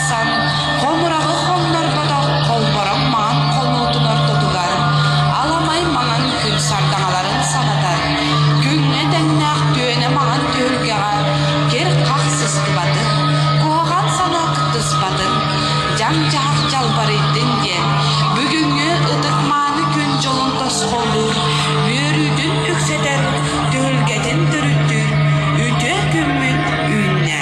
тахсан, хомураҕы хоннорботох холбороҥ маҥан холуутун ортотугар аламай маҥан күн сардаҥаларын санатар, күҥҥэ тэҥнээх түөнэ маҥан түһүлгэҕэ кир-хах сыстыбатын, куһаҕан санаа кыттыспатын, дьаҥ-дьаһах дьалбарыйдын диэн бүгүҥҥү ытык-мааны күн дьолун тосхоллуур, үөрүүтүн үксэтэр түһүлгэтин төрүттүүр үтүө күммүт үүннэ.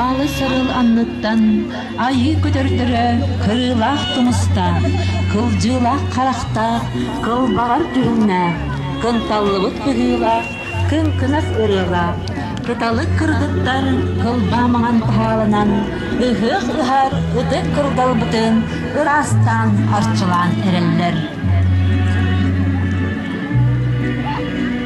Аалы-сырыл анныттан айыы көтөрдөрө кырыылаах тумустаах, кылдьыылаах харахтаах, кылбаҕар түһүннээх, кынталлыбыт быһыылаах, кыҥкынас ырыалаах, кыталык кыргыттар кылбаа маҥан таһаалынан ыһыах ыһар ытык кырдалбытын ыраастаан арчылаан эрэллэр.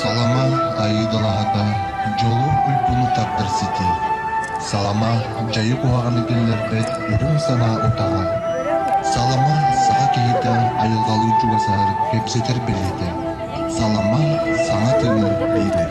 Салама айыыдалаһата, дьолу, уйгуну тардар сити. Салама дьайы куһаҕаны киллэрбэт үрүҥ санаа утаҕа. Салама саха киһитэ айылҕалыы чугасар, кэпсэтэр бэлиэтэ. Салама саҥа тылы биэрэр.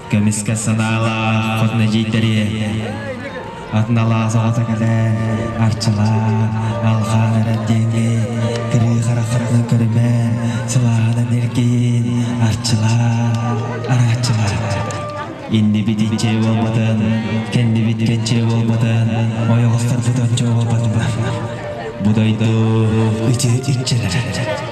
Көмүскэ санаалаах хос нэдьииттэри атыналаас оҕото кэлэн арчылаан алхаан эрэр диэни тирии хара хараҕын көрүмэн сылаанан эргиин арчылаан арааччылаан иннибит иччэ буолбатын кэннибит кэнчилэ буолбатын ойоҕостор бутончо буолбатыбын бу дойду иччилэр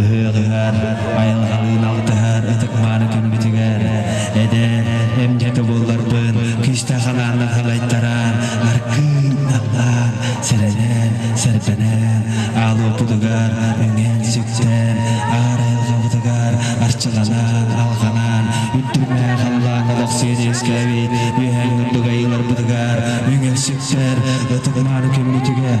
Ыһыаҕыгар айылҕалыын алтыһар ытык-мааны күммүтүгэр эдэр эмдьэ тубулларбын күүстээх анааннар халайтаран аргыый наллаан сэрэнэн сэрбэнэн аал уопутугар үҥэн сүктэн аар айылҕабытыгар арчыланан алҕанан үрдүктээх халлааҥҥа олохсуйан үөскээбит үөһээ курдук айыыларбытыгар үҥэн сүктэр ытык-мааны күммүтүгэр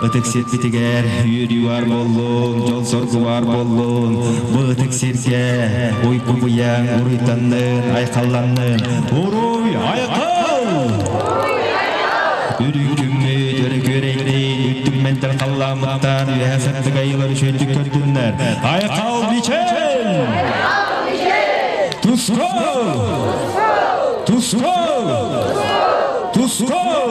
Ытык сирбитигэр үөрүү баар буоллун, дьон-соргу баар буоллун. Бу ытык сиргэ уйгугуйан, уруйданнын, айхалланнын. Уруй, айхал! Үрүҥ күммүт өрөгүөрэйдин үрдүк мэнтер халлаамыттан үөһэ сыттык айылар үшөйдүк көрдүннэр. Айхал Мичел! Тускал! Тускал! Тускал!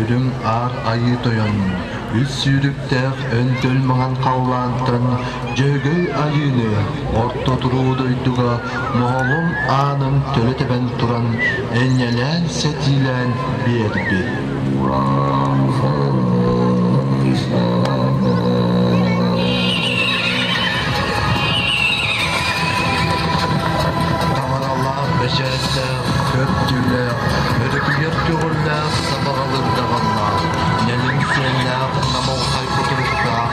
Үрүҥ Аар Айыы Тойонун үс сүүрүктээх өнтөл маҥан халлаантан Дьөөгөй Айыыны орто туруу дойдуга Моһолун аанын төлө тэбэн туран энньэлээн-сэтиилээн биэрбит. Тамаралаах бэчээттээх, көп түүлээх, өрүкүйэр көҕүллээх, сабаҕалыыр даҕаннаах, нэлим сүөллээх, намылхай кутуруктаах,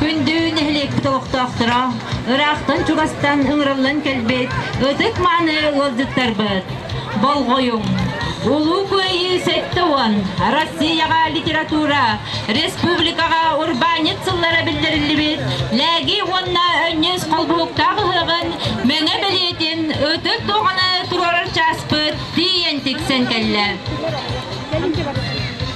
Күндү нэһилиэкпит олохтоохторо, ыраахтан чугастан ыҥырыллан кэлбит ытык-мааны ыалдьыттарбыт! Болҕойуҥ! Улуу Кыайыы сэттэ уон Россияҕа литература республикаҕа урбаанньыт сыллара биллэриллибит Лээги уонна Өнньүөс холбоһуктаах ыһыаҕын мэҥэ бэлиэтин ытык дуоҕаны туруорар чааспыт тиийэн тиксэн кэллэ.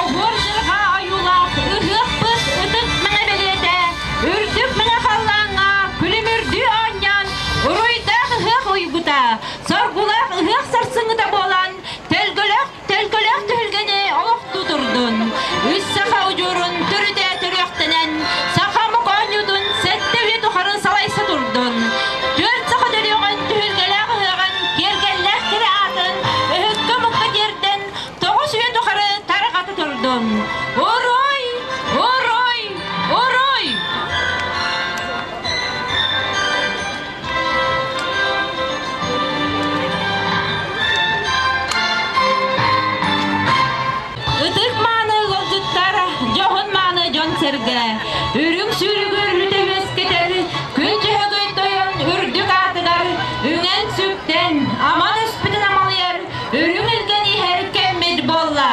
Обур дьылҕа ойуулаах ыһыахпыт ытык мэҥэ бэлиэтэ үрдүк мэҥэ халлааҥҥа күлүмүрдүү оонньоон уруйдаах ыһыах уйгута соргулаах ыһыах сарсыҥҥыта буолан төлкөлөөх төлкөлөөх түһүлгэни олох тутурдун үс саха удьуорун төрүтэ төрүөхтэнэн саха омук оонньуутун сэттэ үйэ тухары салайса турдун түөрт саха төрүөҕүн түһүлгэлээх ыһыаҕын киэргэллээх кэрэ аатын өһүккэ омукка тиэрдэн тоҕус үйэ тухары тарҕата турдум. Урой! Урой! Урой! Ытык мааны ыалдьыттар, дьоһун мааны дьон-сэргэ, үрүҥ сүүрүгү үрүтэ үөскэтэр күн дьөһөгөй тойон үрдүк аатыгар үҥэн-сүктэн, аман өспүтүн амалыйар Үрүҥ илгэн иһэр кэммит буолла.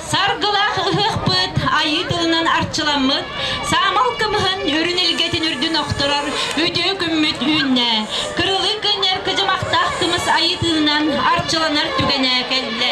Саргылаах ыһыахпыт айыы тылынан арчыламмыт, саамал кымыһын үрүн илгэтин үрдүн охторор үтүө күммүт үүннэ. Кырылыы күннэр кыдьымахтаах тымыс айыы тыынынан арчыланар түгэнэ кэллэ.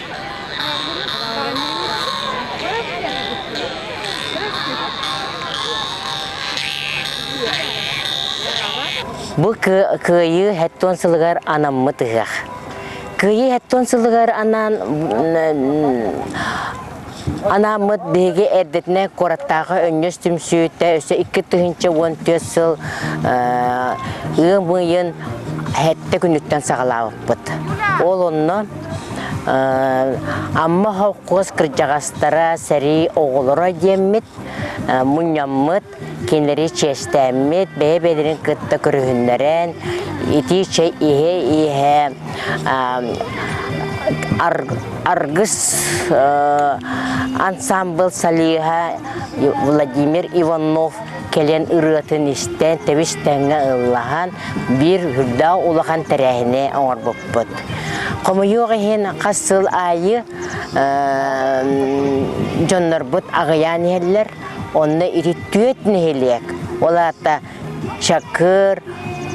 Бу кыайыы хэттон сылыгар анаммыт ыһах. Кыайыы хэттон сылыгар анаан Анаммыт биһиги эрдэтинэ куораттааҕы өнньөс түмсүүтэ өссө икки тыһыынча уон түөрт сыл ыам ыйын хэттэ күнүттэн саҕалаабыппыт. Ол онно Амма холкуос кырдьаҕастара сэрии оҕолоро диэммит, мунньаммыт, кинилэри чиэстээммит, бэйэ-бэйэлэрин кытта көрүһүннэрэн, итии чэй иһэ-иһэ аргыс ансамбыл салиыһа Владимир Иванов кэлэн ырыатын истэн, тэбис-тэҥҥэ ыллаһан, биир үрдээх улахан тэрээһини оҥорбуппут. Хомойуох иһин хас сыл аайы дьоннорбут аҕыйаан иһэллэр. Онно ити түөрт нэһилиэк, ол аата Чакыр,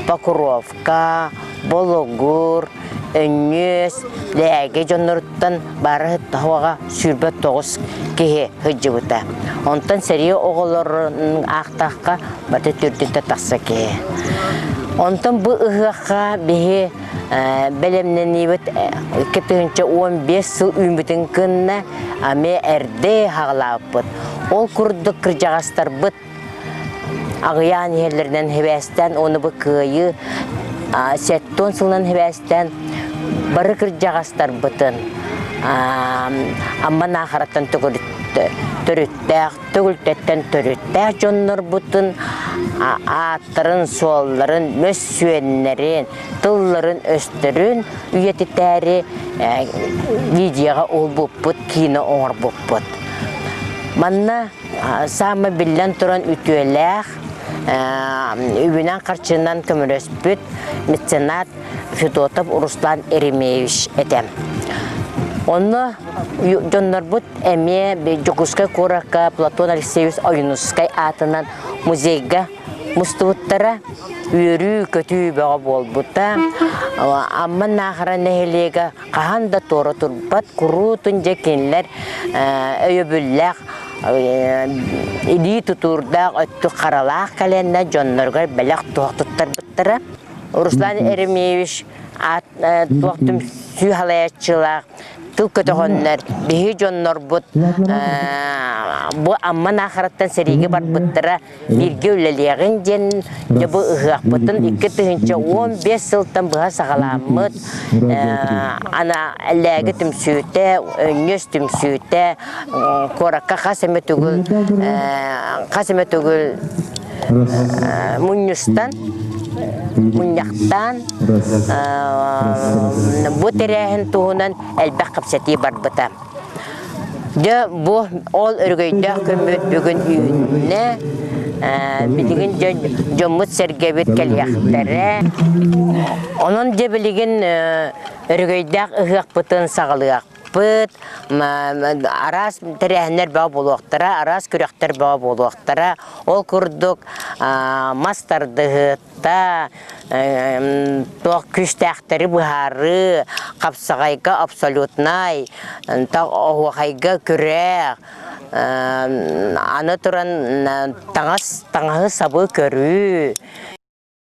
Покровка, Болугур, Өнньүөс, Лээги дьонноруттан бары тоһоҕо сүүрбэ тоҕус киһи сылдьыбыта. Онтон сэрии оҕолорун аахтахха бата түрдүнтэ тахса киһи. Онтон бу ыһыахха биһи бэлэмнэниибит икки тыһыынча уон биэс сыл үүммүтүн кынна ами эрдэ хаҕалаабыппыт. Ол курдук кырдьаҕастарбыт аҕыйаан иһэллэринэн хибээстээн оны бу кыайыы сеттон сылынан хибээстээн бары кырдьаҕастарбытын Амма Наахараттан төрүттээх төгүлтэттэн төрүттээх дьоннорбутун ааттарын-суолларын, мөссүөннэрин, тылларын-өстөрүн үйэтитээри э, видеоҕа улбуппут, кино оҥорбуппут. Манна саама биллэн туран үтүөлээх, үбүнэн-харчынан көмөлөспүт меценат Федотов Руслан Еремеевич этэ. Онно дьоннорбут эмиэ Дьокуускай куоракка Платон Алексеевич Ойунускай аатынан музейга мустубуттара үөрүү-көтүү бөҕө буолбута Амма Наахара нэһилиэгэ хаһан да туора турбат куруутун дьэ кинилэр өйөбүллээх илии тутуурдаах өттүк харалаах кэлэннэ дьонноругар бэлэх туох туттарбыттара Руслан Еремеевич аат туох түмсүү халаяччылаах тыл көтөҕөннөр биһи дьоннорбут бу Амман Аахараттан сэриигэ барбыттара бииргэ үлэлиэҕин диэн дьэ бу ыһыахпытын икки тыһыынча он бес сылтан быһа саҕаламмыт ана эллээги түмсүүтэ өнньүс түмсүүтэ куоракка хас эмэ түгүл хас эмэ түгүл мунньустан мунньахтаан бу тэрээһин туһунан элбэх кэпсэтии барбыта дьэ бу ол өрөгөйдөөх көммүт бүгүн үүннэ билигин дьоммут сэргэбит кэлиэхтэрэ онон дьэ билигин өрөгөйдөөх ыһыахпытын саҕалыах Пыт, араас тэрээһиннэр бөҕө буолуохтара, араас күрөхтэр бөҕө буолуохтара. Ол курдук мас тардыһыта, туох күүстээхтэри быһаарыы, хапсаҕайга абсолютнай, оһуохайга күрэх, аны туран таҥас, таҥаһы-сабы көрүү.